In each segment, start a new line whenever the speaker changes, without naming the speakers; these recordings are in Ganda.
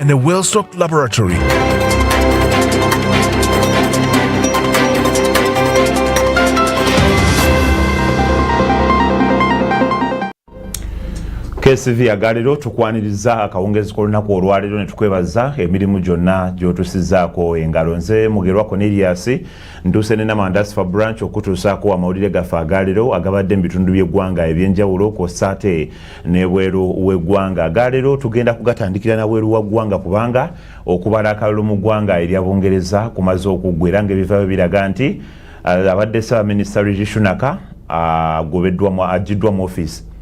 and a well-stocked laboratory.
KCV agalero tukwaniriza akawungezi k'olunaku olwaleero ne tukwebaza emirimu gyonna gy'otusizaako engalo nze mugerwa Cornelius ntuuse ne Namandasi fa branch okutuusaako amawulire gaffe agalero agabadde mu bitundu by'eggwanga eby'enjawulo kw'ossa ate nebweru wegwanga galero tugenda kugatandikira nabweru wagwanga kubanga okubala akalulu mu gwanga erya bungereza kumaze okuggwa era ngaebivayo biraga nti eh, abadde ssabaminista rijishunaka agobeddwa ah, ajiddwa mu office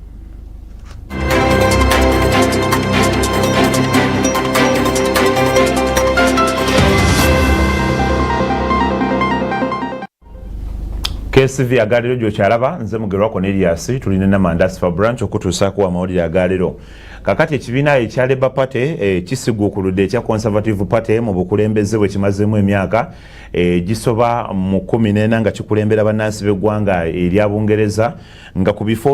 KSV agalero gyo kyalaba nze mugerwa Cornelius tuli ne Namandasi for branch okutuusa ku amawulire agalero kakati ekibiina ekya Labour Party eh, kisiguukuludde ekya Conservative Party mu bukulembeze bwe kimazeemu emyaka eh, gisoba mu kumi n'ena nga kikulembera bannansi b'eggwanga erya Bungereza nga ku bifo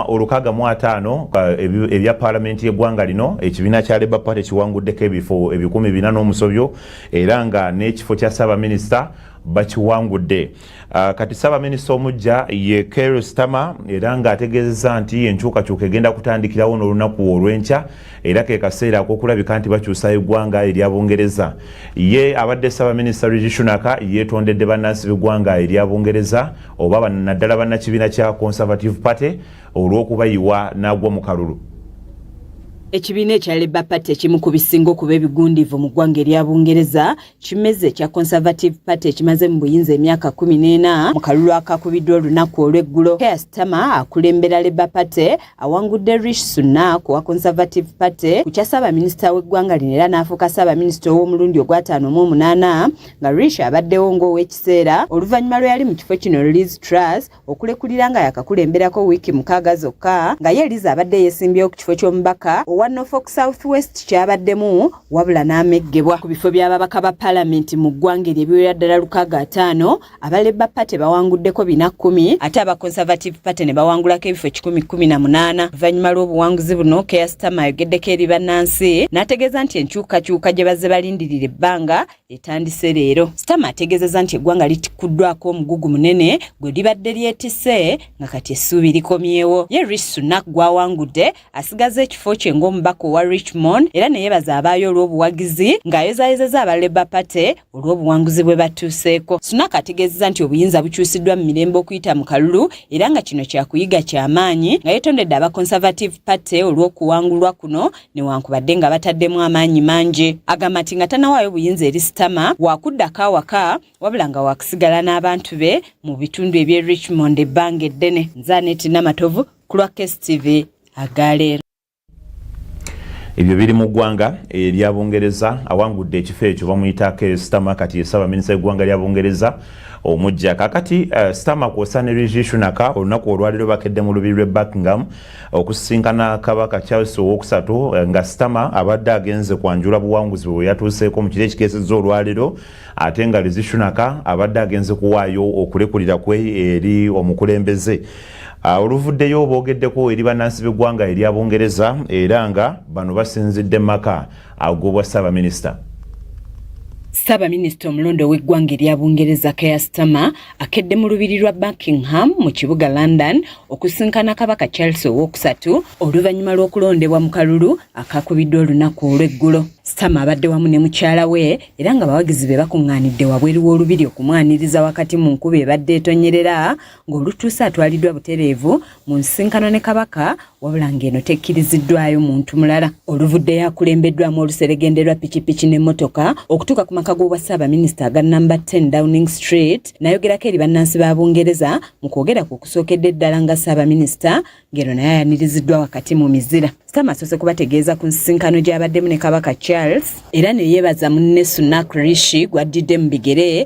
olukaaga mu ataano eh, ebya paalamenti y'eggwanga lino ekibiina kya Labour Party kiwanguddeko ebifo ebikumi bina n'omusobyo era nga n'ekifo kya ssaabaminisita bakiwangudde ah, kati ssaabaminisita omujja ye ker stama era ng'ategeezezza nti enkyukakyuka egenda kutandikirawo n'olunaku olw'enkya era ke kaseera akokulabika nti bakyusa eggwanga erya bungereza ye abadde ssaabaminisita rigishunaka yeetondedde bannansi b'eggwanga erya bungereza oba naddala bannakibiina kya conservative party olw'okubayiwa n'agwa mu kalulu
ekibiina ekya labour party ekimu ku bisinga okuba ebigundiivu mu ggwanga erya bungereza Kimeze kya Conservative Party ekimaze mu buyinza emyaka kumi n'ena mu kalulu akakubiddwa olunaku olw'eggulo Keir Starmer akulembera Labour Party awangudde Rishi Sunak owa Conservative Party ku kya ssaabaminisita w'eggwanga lino era n'afuuka ssaabaminisita ow'omulundi ogw'ataano mu omunaana nga Rishi abaddewo ng'ow'ekiseera oluvannyuma lwe yali mu kifo kino Liz Truss okulekulira nga yakakulemberako wiiki mukaaga zokka nga ye eliza abadde yeesimbyewo ku kifo ky'omubaka owa norfolk south west kyabaddemu wabula n'ameggebwa ku bifo by'ababaka ba palamenti mu ggwanga eryo ebiwera ddala lukaaga ataano aba leba party bawanguddeko bina kkumi ate aba conservative party ne bawangulako ebifo kikumi kkumi na munaana oluvannyuma lw'obuwanguzi buno keasitama ayogeddeko eri bannansi n'ategeeza nti enkyukakyuka gye bazze balindirira ebbanga etandise leero sitama ategeezezza nti eggwanga litikuddwako omugugu munene gwe libadde lyetise nga kati essuubi likomyewo ye rich sunak gwawangudde asigaza ekifo kye ng'omubaka owa richmond era ne yebaza abaayo olw'obuwagizi ng'ayozayozeza aba labour party olw'obuwanguzi bwe batuuseeko sunak ategeezezza nti obuyinza bukyusiddwa mu mirembe okuyita mu kalulu era nga kino kyakuyiga kyamaanyi nga yetondedde aba conservative party olw'okuwangulwa kuno newankubadde nga bataddemu amaanyi mangi agamba nti nga tanawaayo buyinza eri sitama wakuddako awaka wabula nga wakusigala n'abantu be mu bitundu eby'e richmond ebbanga eddene nzaneeti namatovu ku lwa kstv agaleero
ebyo biri mu ggwanga erya bungereza awangudde ekifo ekyo bamuyita kstama kati yesaba minisa eggwanga lya bungereza omujja kakati uh, eh, stama kwosa ne rishi shunaka olunaku olwaliro bakedde mu lubiri lwe buckingham okusisinkana kabaka charles owokusatu eh, nga sitama abadde agenze kwanjula buwanguzi bwe yatuuseeko mu kiro ekikeesezza olwaleero ate nga lizishunaka abadde agenze kuwaayo okulekulira kwe eri omukulembeze ah, oluvuddeyo boogeddeko eri bannansi b'eggwanga erya bungereza era nga bano basinzidde mu maka agobwa ssaabaminisita ssaabaminisita
omulonda ow'eggwanga erya bungereza keya sitama akedde mu lubiri lwa Buckingham mu kibuga London okusinkana kabaka Charles ow'okusatu oluvannyuma lw'okulondebwa mu kalulu akakubiddwa olunaku olw'eggulo. Sitama abadde wamu ne mukyala we era nga bawagizi be bakuŋŋaanidde wabweru w'olubiri okumwaniriza wakati mu nkuba ebadde etonyerera ng'olutuuse atwaliddwa butereevu mu nsinkano ne kabaka wabula ng'eno tekkiriziddwayo muntu mulala oluvudde yakulembeddwamu oluseregende lwa pikipiki n'emmotoka okutuuka ku maka g'obwa ssaabaminisita aga namba 10 downing street nayogerako eri bannansi ba bungereza mu kwogera ku okusookedde eddala nga ssaabaminisita ng'eno naye ayaniriziddwa wakati mu mizira sama asoose kubategeeza ku nsisinkano gy'abaddemu ne kabaka charles era ne yeebaza munne sunak rishi gwaddidde mu bigere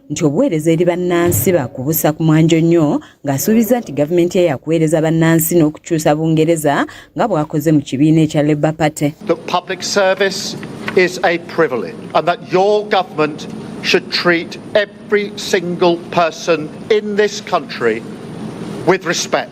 nti obuweereza eri bannansi bakubusa ku mwanjo nnyo ng'asuubizza nti gavumenti ye yakuweereza bannansi n'okukyusa bungereza nga bw'akoze mu kibiina ekya labour party
is a privilege and that your government should treat every single person in this country with respect.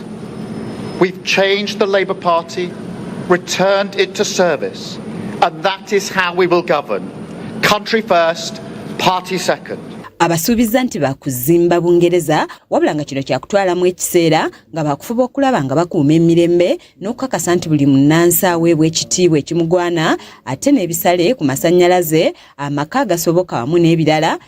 We've changed the Labour Party, returned it to service, and that is how we will govern. Country first, party second. abasuubizza nti
baakuzimba bungereza wabula nga kino kyakutwalamu ekiseera nga baakufuba okulaba nga bakuuma emirembe n'okukakasa nti buli munnansi aweebwa ekitiibwa ekimugwana ate n'ebisale ku masannyalaze amaka agasoboka wamu n'ebirala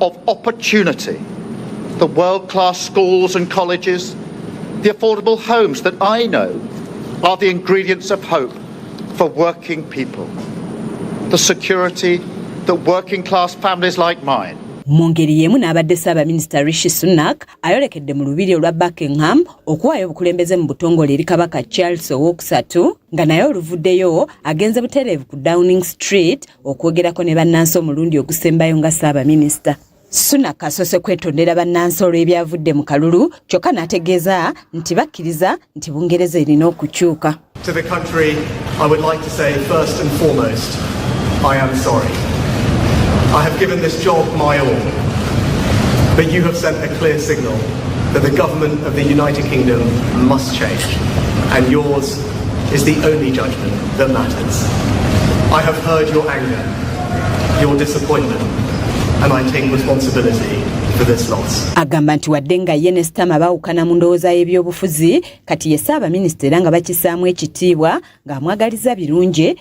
of opportunity, the world class schools and colleges, the affordable homes that I know are the ingredients of hope for working people, the security that working class families like mine mu ngeri y'emu
n'abadde ssaabaminisita rishi sunak ayolekedde mu lubiri olwa buckingham okuwaayo obukulembeze mu butongole eri kabaka charles owookusatu nga naye oluvuddeyo agenze butereevu ku downing street okwogerako ne bannansi omulundi ogusembayo nga ssaabaminisita sunak asoose kwetondera bannansi olw'ebyavudde mu kalulu kyokka n'ategeeza nti bakkiriza nti bungereza erina okukyuka
I have given this job my all, but you have sent a clear signal that the government of the United Kingdom must change, and yours is the only judgment that matters. I have heard your anger, your disappointment, and I take responsibility for this loss. Agamba nti wadde nga
ye ne Sitama baawukana mu ndowooza y'ebyobufuzi, kati ye Ssaabaminisita era nga bakisaamu ekitiibwa ng'amwagaliza birungi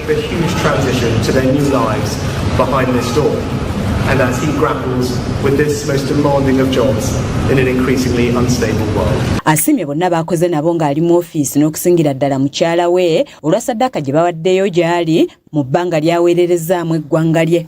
A huge transition to their new lives behind this door. And as he grapples with this most demanding of jobs in an increasingly unstable world. Asimye bonna baakoze
nabo ng'ali mu ofiisi n'okusingira ddala mukyala we olwa saddaaka gye bawaddeyo gy'ali mu bbanga ly'aweererezaamu eggwanga lye.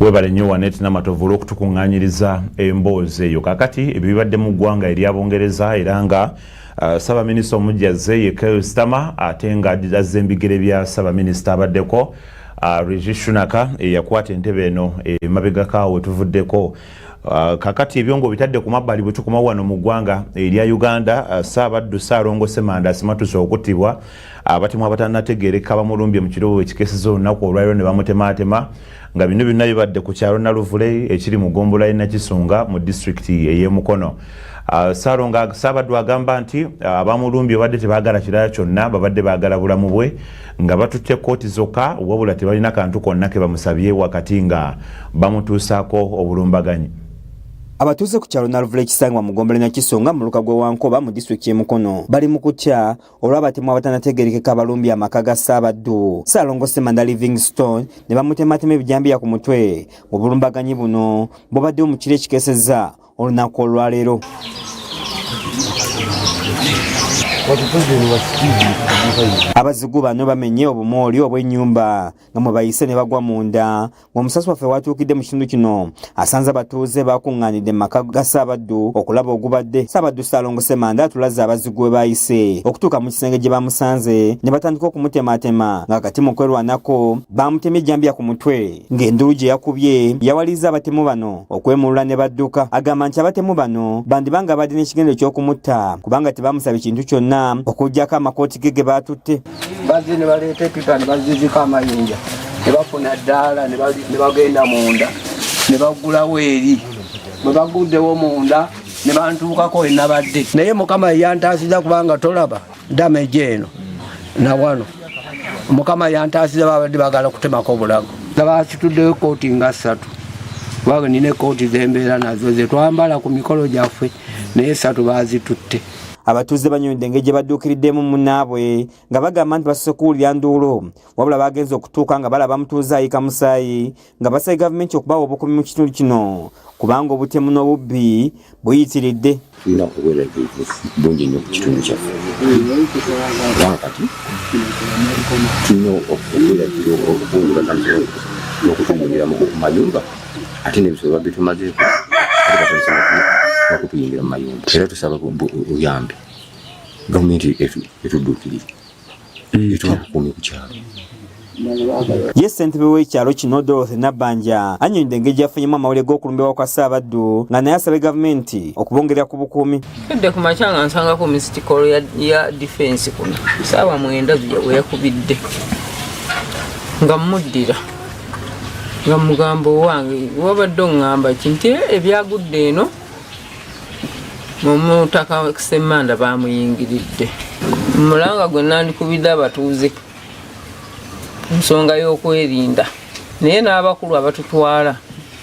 webale nnyo wanet namatovu olwokutukuŋŋanyiriza emboozi eyo kakati ebyo bibadde mu ggwanga erya bungereza era nga uh, ssabaminisita omujja azze ye kelstama ate nga azza embigere bya ssabaminisita abaddeko uh, rigi shunaka eyakwata entebe eno emabegako awo wetuvuddeko uh, kakati ebyo nga obitadde ku mabbali bwe tukomawo wano mu ggwanga erya uganda ssaabaddu ssaalongo semanda asimatuse okuttibwa abatemu abatanategeereka bamulumbye mu kiroobo ekikeseza olunaku olwaliro ne bamutemaatema nga bino byonna bibadde ku kyalo naluvule ekiri mu gombola ye nakisunga mu disitulikiti ey'emukono ah, salonga saabaddu agamba nti ah, abamulumbye babadde tebaagala kirala kyonna babadde baagala bulamu bwe nga batutte kooti zokka wabula tebalina kantu konna ke bamusabye wakati nga bamutuusaako obulumbaganyi abatuuze
ku kyalo naluvula ekisangibwa mu gombolola nakisonga mu luka gw'ewankoba mu disitulikiti y'emukono bali mu kutya olw'abatemu abatanategerekeka abalumbye amaka ga ssaabaddu ssaalongo semanda livingstone ne bamutematema ebijambiya ku mutwe mu bulumbaganyi buno bubaddewo mu kiro ekikeseza olunaku olwaleero abazigu bano bamenye obumooli obw'ennyumba nga mwe bayise ne bagwa munda ng'omusasi waffe watuukidde mu kitundu kino asanze abatuuze bakuŋŋaanidde mu maka ga ssaabaddu okulaba ogubadde ssaabaddu ssaalongo semanda atulaze abazigu we baayise okutuuka mu kisenge gye bamusanze ne batandika okumutemaatema nga kati mu kwerwanako baamutemye ejjambiya ku mutwe ng'enduulu gye yakubye yawaliriza abatemu bano okwemulula ne badduka agamba nti abatemu bano bandiba nga badde n'ekigendo ky'okumutta kubanga tebamusaba ekintu kyonna okuggyako amakooti ge ge baatutte bazze ne baleeta
epipa ne baziziko amayinja ne bafuna ddaala ne bagenda munda ne baggulawo eri bwe baguddewo munda ne bantuukako we nabadde naye mukama yeyantaasiza kubanga tolaba dameje eno na wano mukama yantaasiza babadde bagala kutemako obulago nga bakituddewo ekkooti nga ssatu kubanga nina ekkooti zembeera nazo zetwambala ku mikolo gyaffe naye ssatu bazitutte Abatuuze
banyonyodde engeri gye badduukiriddemu munnaabwe nga bagamba nti basoose kuwulira nduulu wabula baagenze okutuuka nga balaba mutuuze ayika musaayi nga basabye gavumenti okubawa obukuumi mu kitundu kino kubanga obutemu n'obubbi buyitiridde tulina
obweraliikirivu bungi nnyo ku kitundu kyaffe kubanga kati tulina okweraliikira okubungula n'okutumbulira mu mayumba ate nebisolo babitumazeeko bakutuyingira mu mayumba era tusaba buyambi gavumenti etuddukirire mm. etubakukuumi ku kyalo
ye ssentebe w'ekyalo kino dorothy nabbanja annyonyidde engeri gyafunyemu amawulire g'okulumbibwa kwa ssaabaddu nga naye asabye gavumenti okubongerera ku bukuumi tudde ku makya nga
nsangako misitikolo ya difensi kuno saawa mwenda weyakubidde nga mmuddira nga mugambo owange wabadde oŋŋamba ki nti eh, ebyagudde eno omutaka semmanda bamuyingiridde mulanga gwe nandikubidde abatuuze nsonga y'okwerinda naye n'abakulu abatutwala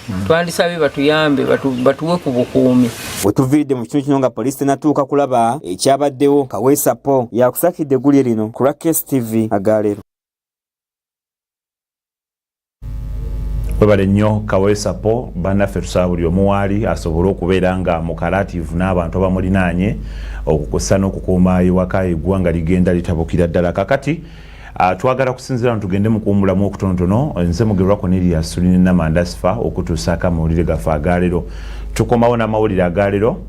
hmm. twandisabye batuyambe batuwe ku bukuumi wetuviiridde mu
kitundu kino nga poliisi tenatuuka kulaba ekyabaddewo kaweesapo yakusakidde eggulye lino ku rakkes tv agaleero webale nnyo kawole sapo banaffe tusaba buli omu waali asobole okubeera nga mukalativu n'abantu abamulinaanye okukusa n'okukuuma ewaka eggwanga ligenda litabukira ddala kakati ah, twagala kusinzira ntugende mukuwumulamu okutonotono nze mugerwa koneriya sulinenamandasifa okutuusaako amawulire gaffe agaalero tukomawo n'amawulire agaalero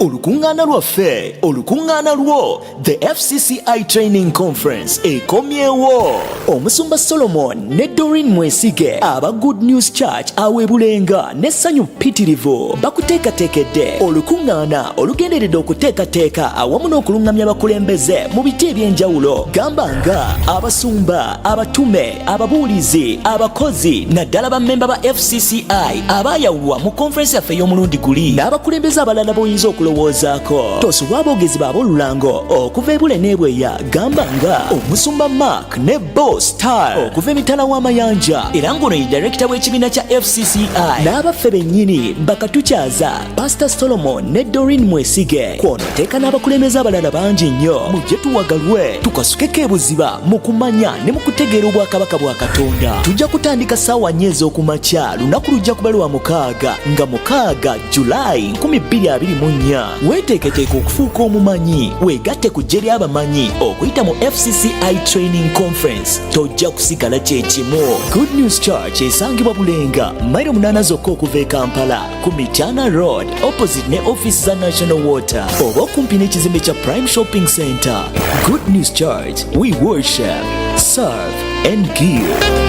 olukuŋŋaana lwaffe olukuŋŋaana lwo the fcci training conference ekomyewo omusumba solomon ne dorin mwesige aba good news church awebulenga n'essanyu ppitirivu bakuteekateekedde olukuŋŋaana olugenderedde okuteekateeka awamu n'okuluŋŋamya abakulembeze mu biti eby'enjawulo gamba nga abasumba abatume ababuulizi abakozi naddala bammemba ba fcci abaayawulwa mu konferensi yaffe ey'omulundi guli n'abakulembeze abalala b'oyinza okulowoozaako tosubwa aboogezi baab'olulango okuva ebule n'ebweya gamba nga omusumba mark ne bo star okuva emitala w'amayanja era ng'ono ye direkita w'ekibiina kya fcci n'abaffe bennyini bakatukyaza pasita solomon ne dorin mwesige kwonoteeka n'abakulembeze abalala bangi nnyo mujje tuwagalwe tukasukeko ebuziba mu kumanya ne mu kutegeera obwakabaka bwa katonda tujja kutandika saawa nnyo ez'okumakya lunaku lujja kuba lwa mukaaga nga mukaaga julayi 224 weeteeketeeka okufuuka omumanyi weegatte ku ggye ly'abamanyi okuyita mu fcci training conference tojja kusigala kye kimu good news church esangibwa bulenga mairo munaana zokka okuva e kampala ku Mityana Road opposite ne office za National Water oba okumpi n'ekizimbe kya Prime Shopping Center. Good News Church, we worship, serve and give.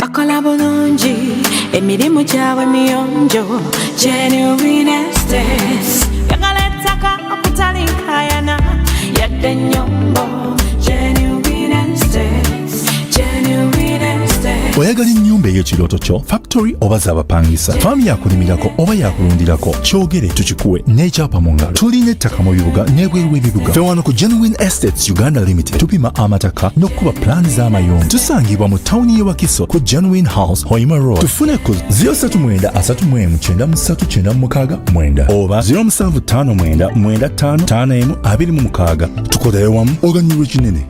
bakola bulungi emirimu gyabwe miyonjo genuinestes yagala ettaka okutali nkayana yadde ennyombo oyagala ennyumba eyo
kirooto kyo factory oba zabapangisa faamu yakunimirako oba yakulundirako kyogere tukikuwe n'ekyapa mu ngalo tulina ettaka mu bibuga n'ebweru w'ebibuga fewano ku genuine estates Uganda Limited tupima amataka n'okukuba pulaani z'amayumba tusangibwa mu tawuni y'e Wakiso ku Genuine House Hoima Road tufune ku 07933939 oba 0759955526 tukolere wamu oganyulwa ekinene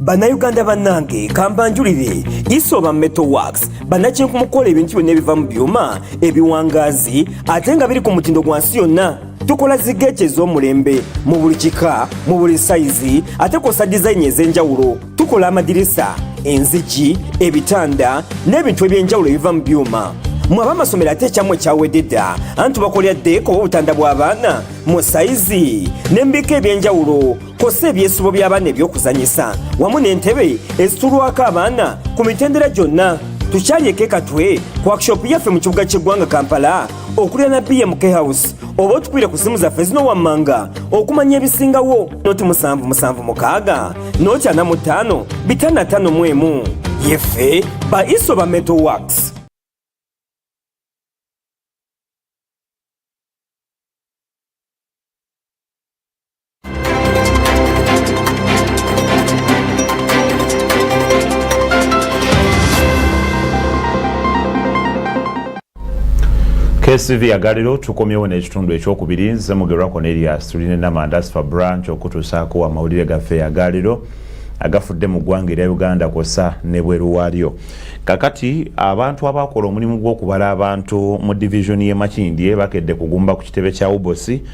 bannayuganda bannange kambanjulire isoba metal works bannakinku mukukola ebintu byonna ebiva mu byuma ebiwangaazi ate nga biri ku mutindo gwa nsi yonna tukola zigeeki ez'omulembe mu buli kika mu buli sayizi ate kwosa dizayini ez'enjawulo tukola amadirisa enzigi ebitanda n'ebintu eby'enjawulo ebiva mu byuma mwe abamasomero ate ekyamwe kyawedde dda anti bakolera ddeeko obutanda bw'abaana mu sayizi n'embika eby'enjawulo kwossa ebyesibo by'abaana eby'okuzanyisa wamu n'entebe ezitulwako abaana ku mitendera gyonna tukyalyeko ekatwe ku workshop yaffe mu kibuga ky'eggwanga kampala okulya na bmk house oba otukwire ku simu zaffe zino wammanga okumanya ebisingawo noti musanvu musanvu mukaaga noti ana mu ttaano bitano ataano mu emu yeffe ba iso ba metal works
KCV agaliro tukomyewo n'ekitundu ekyokubiri nze mugerwa Cornelius tuline namanda sifa branch okutuusaako amawulire gaffe agaliro agafudde mu ggwanga erya Uganda kwossa ne bweru waalyo kakati abantu abaakola omulimu gw'okubala abantu mu divizoni y'e Makindye bakedde kugumba ku kitebe kya Ubosi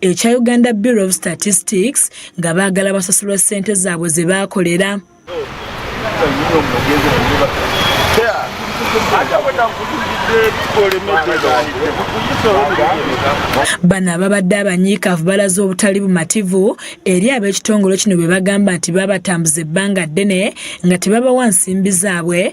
ekya uganda bureau of statistics nga baagala basasulwa ssente zaabwe ze baakolera bano ababadde abanyiikaavu balaze obutali bumativu eri ab'ekitongole kino bwe bagamba nti baabatambuza ebbanga ddene nga tebabawa nsimbi zaabwe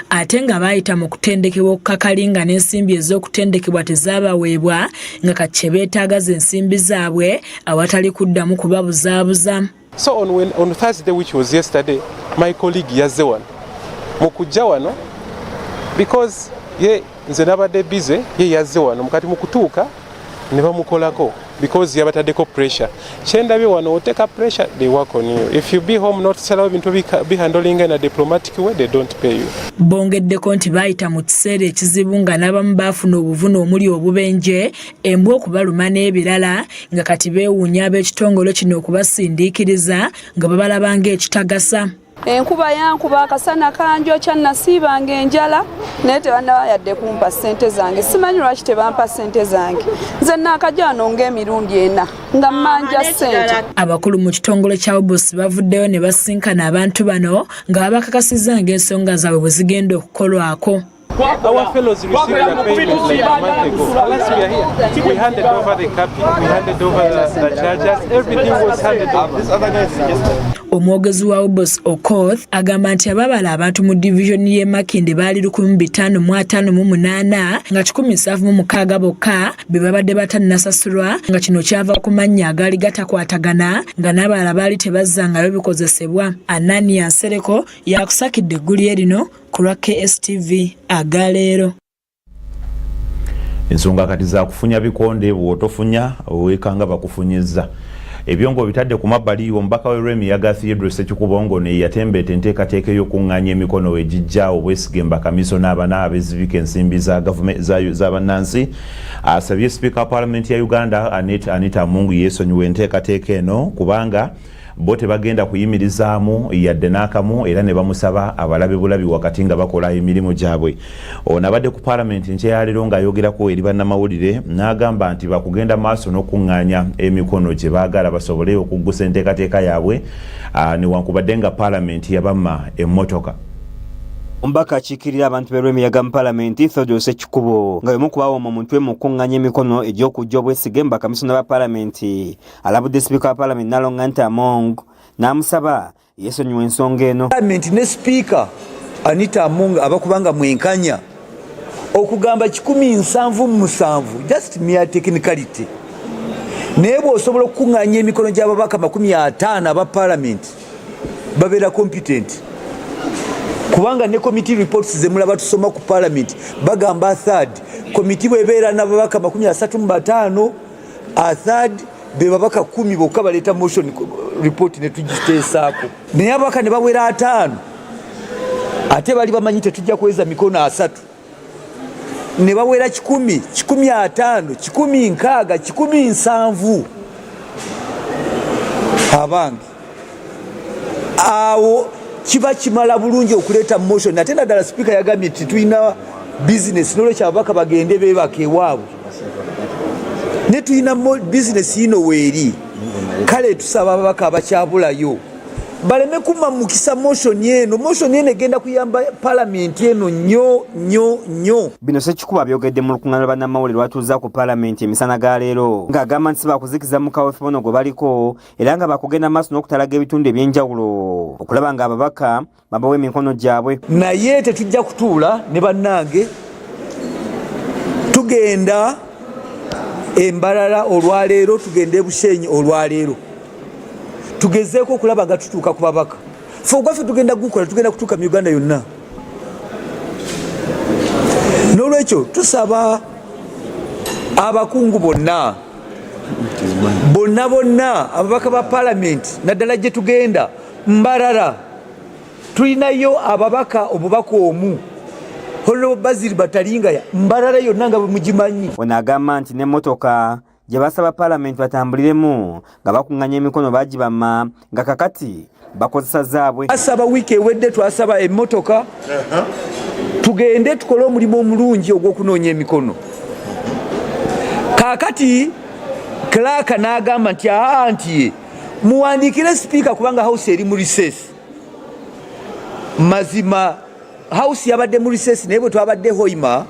ate nga baayita mu kutendekebwa okukakali nga n'ensimbi ez'okutendekebwa tezaabaweebwa nga kati kye beetaaga ze nsimbi zaabwe awatali kuddamu kubabuzaabuza so on, when,
on thursday which was yesterday my colleague yazze wano mu kujja wano because ye nze nabadde bize ye yazze wano mukati mu kutuuka ne bamukolako because yabatadeko pressure kyendabye wano oteka pressure they work on you if you be home not sell ebintu bihandling in a diplomatic way they don't pay you bongeddeko nti
bayita mu kiseera ekizibu nga n'abamu baafuna obuvune omuli obubenje embwa okubaluma n'ebirala nga kati beewuunya ab'ekitongole kino okubasindiikiriza nga babalaba ng'ekitagasa enkuba
yankuba akasana kanjokya nasiibanga enjala naye tebanaba yadde kumpa sente zange simanyi lwaki tebampa sente zange nze naakajano ngaemirundi ena nga mmanja ah, sente abakulu mu kitongole
kya obusi bavuddeyo ne basinkana abantu bano nga babakakasiza ngaensonga zaabwe bwe zigenda okukolwako Our fellows
received their payments like a month ago. Last we are here, we handed over the cap, we handed over the, the chargers, everything was handed over. This other guy is just... Omwogezi wa Obos
Okoth agamba nti ababala abantu mu division y'e Makindye baali 1558 nga 176 bokka be babadde batannasasulwa nga kino kyava ku mannya agaali gatakwatagana nga n'abalala baali tebazzangayo bikozesebwa. Anania Nsereko yakusakidde eggulire lino ku lwa KSTV aga leero.
Ensonga kati za kufunya bikonde bw'otofunya weekanga bakufunyizza. Ebyo ng'obitadde ku mabbali omubaka w'e Lwemi yaga Theodore Ssekikubo ng'ono ye yatembeeta enteekateeka ey'okuŋŋaanya emikono we gijja obwesige mbakamisona abana abezibika ensimbi za za bannansi asabye sipiika wa paalamenti ya Uganda Anita Among yeesonyiwa enteekateeka eno kubanga bo tebagenda kuyimirizaamu yadde n'akamu era ne bamusaba abalabe bulabi wakati nga bakola emirimu gyabwe ono abadde ku palamenti nkyeyalero ng'ayogerako eri bannamawulire n'agamba nti bakugenda maaso n'okukuŋŋaanya emikono gye baagala basobole okuggusa enteekateeka yaabwe ah, newankubadde nga palamenti yabamma emmotoka
Omubaka akiikirira abantu b'e Lwemiyaga mu palamenti Theodore Sekikubo nga y'omu ku baawoma omutwe mu kukuŋŋanya emikono egy'okuggya obwesige mu bakamisona ba palamenti alabudde sipiika wa palamenti nalonga nti among n'amusaba yesonyiwa ensonga eno palamenti ne sipiika
anita among abakubanga mwenkanya okugamba kikumi nsanvu musanvu just mere technicality naye bwosobola okukuŋŋanya emikono gy'ababaka makumi ataano aba palamenti babeera competent kubanga ne committee reports zemulaba tusoma ku palamenti bagamba third committee bwebeera nababaka makumi asatu mu bataano athird be babaka kumi bokka baleeta motion report ne tugiteesaako naye ababaka ne bawera ataano ate bali bamanyi tetujja kuweza mikono asatu ne bawera kikumi kikumi ataano kikumi nkaaga kikumi nsanvu abange awo kiba kimala bulungi okuleeta motion ate naddala sipiika yagambye nti tulina bizinesi nolwekyo ababaka bagende bebaka ewaabwe ne tulina bizinesi yino weeri kale tusaba ababaka abakyabulayo baleme kumamukisa motion eno motion eno egenda kuyamba palamenti eno nyo nyo nyo bino sekikuba
byogedde mu lukungana lwabannamawulire lwatuuza ku palamenti emisana ga leero ng'agamba nti sibakuzikiza mukawefebono gwe baliko era nga bakugenda maaso n'okutalaga ebitundu ebyenjawulo okulaba nga ababaka babawa emikono gyabwe naye tetujja
kutuula ne bannange tugenda embalala olwaleero tugenda ebushenyi olwaleero tugezeeko okulaba nga tutuuka ku babaka fe ogwaffe tugenda kugukola tugenda kutuuka mu uganda yonna n'olwekyo tusaba abakungu bonna bonna bonna ababaka ba palamenti naddala gye tugenda mbarara tulinayo ababaka obubaka omu holo baziri batalingaya mbarara yonna nga bwemugimanyi ono agamba nti
n'emmotoka gye basaba palamenti batambuliremu nga bakunganya emikono bagibama nga kakati bakozesa zaabwe. Asaba wiiki ewedde
twasaba emmotoka uh-huh. tugende tukole omulimu omulungi ogw'okunoonya emikono. Kaakati klaaka n'agamba nti aa nti muwandiikire sipiika kubanga house eri mu riseesi. Mazima house yabadde mu riseesi naye bwe twabadde hoima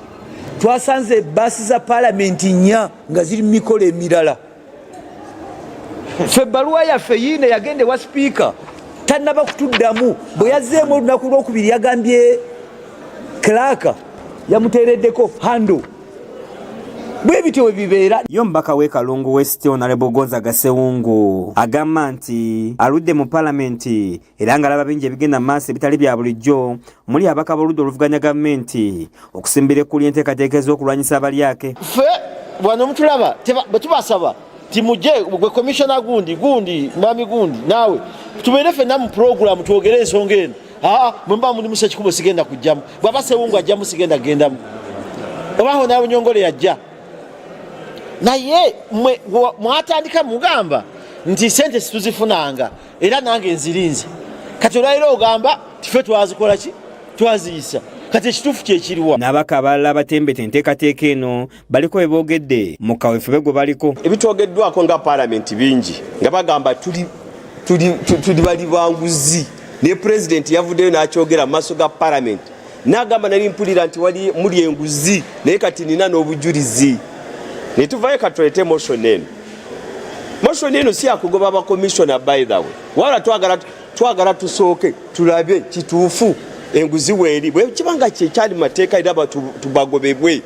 twasanze baasi za palamenti nnya nga ziri mu mikolo emirala. ffe ebbaluwa yaffe yiine yagenda ewa sipiika tannaba kutuddamu bwe yazzeemu olunaku lwokubiri yagambye klaaka yamuteereddeko hando bwe bityo we bibeera yo mubaka w'e kalungu
west onalebo gonza gasewungu agamba nti aludde mu palamenti era ng'alaba bingi ebigenda mu maaso ebitali bya bulijjo muli abaka b'oludda oluvuganya gavumenti okusimbira ekkuli enteekateeka ez'okulwanyisa abalyake fe
bwano mutulaba bwe tubasaba timuje gwe komishona gundi gundi mwami gundi naawe tubeere fenna mu puroguramu twogere ensonga eno aa mwe muba muli musa ekikubo sigenda kujjamu bwaba sewungu ajjamu sigenda kugendamu obaho naawe nyongole yajja naye mwe mwatandika mugamba nti sente situzifunanga era nange nzirinze kati olwaliro ogamba tife twazikola ki twaziyisa kati ekituufu kyekiriwa n'abaka abalala abatembeta
enteekateeka eno baliko bye boogedde mu kawefube gwe baliko ebitwogeddwako nga
paalamenti bingi nga bagamba tuli tuli bali banguzi naye pulezidenti yavuddeyo n'akyogera mu maaso ga paalamenti nagamba nali mpulira nti wali muli enguzi naye kati nina n'obujulizi netuvayo katulete motion eno motion eno si yakugoba bakomisiona by the way wala twagala twagala tusooke tulabe kituufu enguzi weeri bwekibanga kyekyali mateeka era tubagobebwe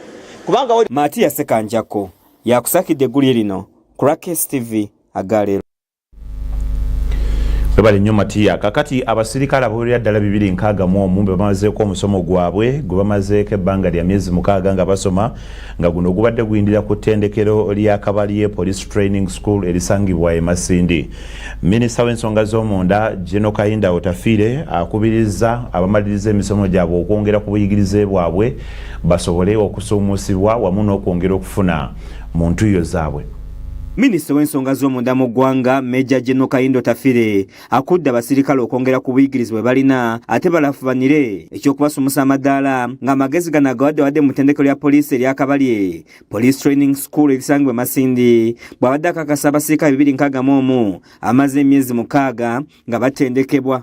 kubanga matiya sekanjako
yakusakidde eggulye lino ku rakes tv agaleero
webale nnyo matiya kakati abasirikale abawerera ddala bibiri nkaaga mu omu bebamazeeko omusomo gwabwe gwe bamazeeko ebbanga lya myezi mukaaga nga basoma nga guno ogubadde guyindira ku ttendekero lya kabalye police training school erisangibwa e masindi minisita w'ensonga z'omunda geno kayinda otafiire akubiriza abamaliriza emisomo gyabwe okwongera ku buyigirize bwabwe basobole okusuumusibwa wamu n'okwongera okufuna mu ntuyo zaabwe Minisita
w'ensonga z'omunda mu ggwanga Meja General Kayindo Tafire akudde abasirikale okwongera ku buyigirizi bwe balina ate balafubanire eky'okubasumusa amadaala ng'amagezi gano agawaddewadde mu ttendekero lya poliisi erya Kabalye Police Training School erisangibwa e Masindi bw'abadde akakasa abasirikale bibiri nkaaga mu omu amaze emyezi mukaaga nga
batendekebwa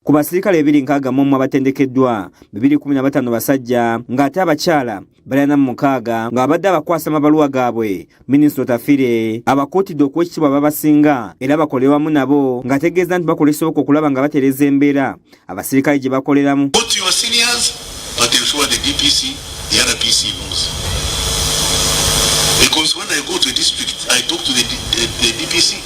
ku
basirikale ebiri nkaaga mu omu abatendekeddwa bibiri kumi na bataano basajja ng'ate abakyala balina mu mukaaga ng'abadde abakwasa amabaluwa gaabwe minisita otafire abakuutidde okuwa ekitiibwa babasinga era bakole wamu nabo ng'ategeeza nti bakola ekisoboka okulaba nga batereza embeera abasirikale gye bakoleramu Because when I
go to a district, I talk to the, the, the DPC.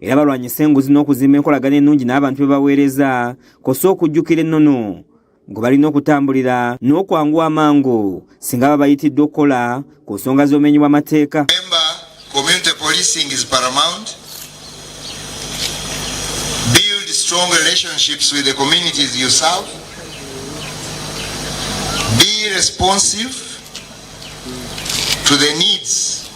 era balwanyise enguzi n'okuzimba enkolagana ennungi n'abantu be baweereza kosa okujjukira ennono gwe balina okutambulira n'okwanguwa amangu singa baba bayitiddwa okukola ku nsonga z'obumenyi bw'amateeka
strong relationships with the communities you serve. Be responsive to the needs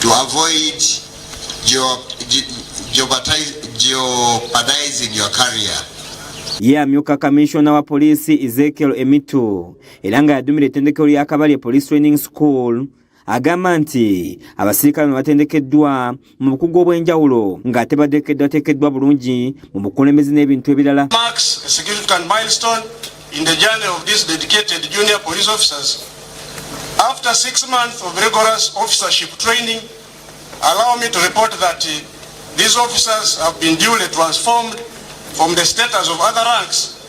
to avoid jeopardizing your career. Ye
amyuka kamishona wa poliisi Ezekiel Emitu era nga yadumira ettendekero lya Kabalye Police Training School agamba nti abasirikale bano batendekeddwa mu bukugu obw'enjawulo ng'ate bateekeddwateekeddwa bulungi mu bukulembeze n'ebintu ebirala
in the journey of these dedicated junior police officers. After six months of rigorous officership training, allow me to report that uh, these officers have been duly transformed from the status of other ranks